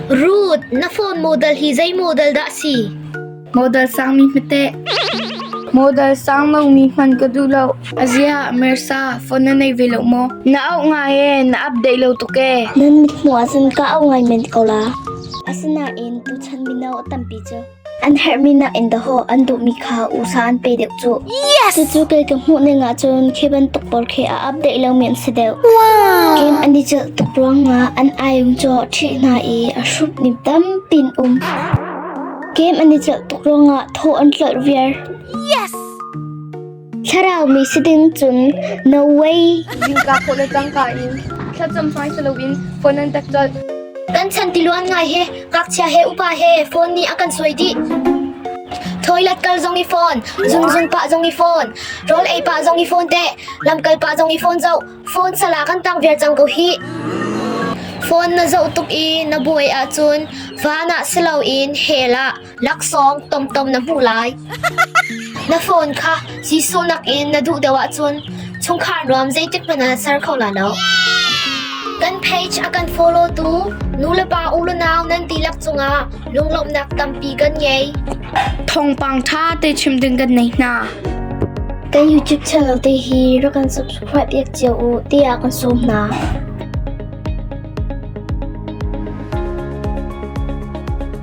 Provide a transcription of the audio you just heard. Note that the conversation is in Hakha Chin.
Ruth, na phone model hi zei model dah a si? Model sangmi hmete. Model sang lomi hman ka duh lo. A zia, Mersa, phone na nei ve lo maw? Na auh ngai e, na update lo tuk e. Nan mithmuh ah cun ka auh ngai men ko la. Asinain tuchan mino tampi cu An herhmi nakin dawhawh an duhmi kha usa an pe deuh cuh. Yes! Cucu kei ka hmuh ning ahcun khi bantuk pawl khi a update lomi an si deuh. Wow! Game an i celh tuk ruangah an ayung cu ṭhih hna i a hrup nim tampi in um. Game an i celh tuk ruangah thaw an tlolh viar. Yes! Thlarau mi si ding cun no way. Zingka khawh le tangka in thlacam hmai si loin phone an tek colh. Kan chan tiluan ngai he, ngakchia he, upa he phone nih a kan suai dih. Toilet kal zong i phone, zunzun pah zong i phone, rawl ei pah zong i phone te, lam kal pah zong i phone zoh, phone sala kan tang viar cang ko hi. Phone na zoh tuk i na buai ahcun van ah si loin hel ah Laksawng tomtom na hmuh lai. Na phone kha Jesuh nakin na duh deuh ahcun chungkhar nuam zeitik hmanh ah ser kho la lo. Kan page a kan follow tu nulepa unau nan dihlak cungah lunglawmhnak tampi kan ngei. Thawngpang ṭha te chim ding kan nei hna. Kan YouTube channel te hi rak kan subscribe ek cio u tiah kan sawm hna.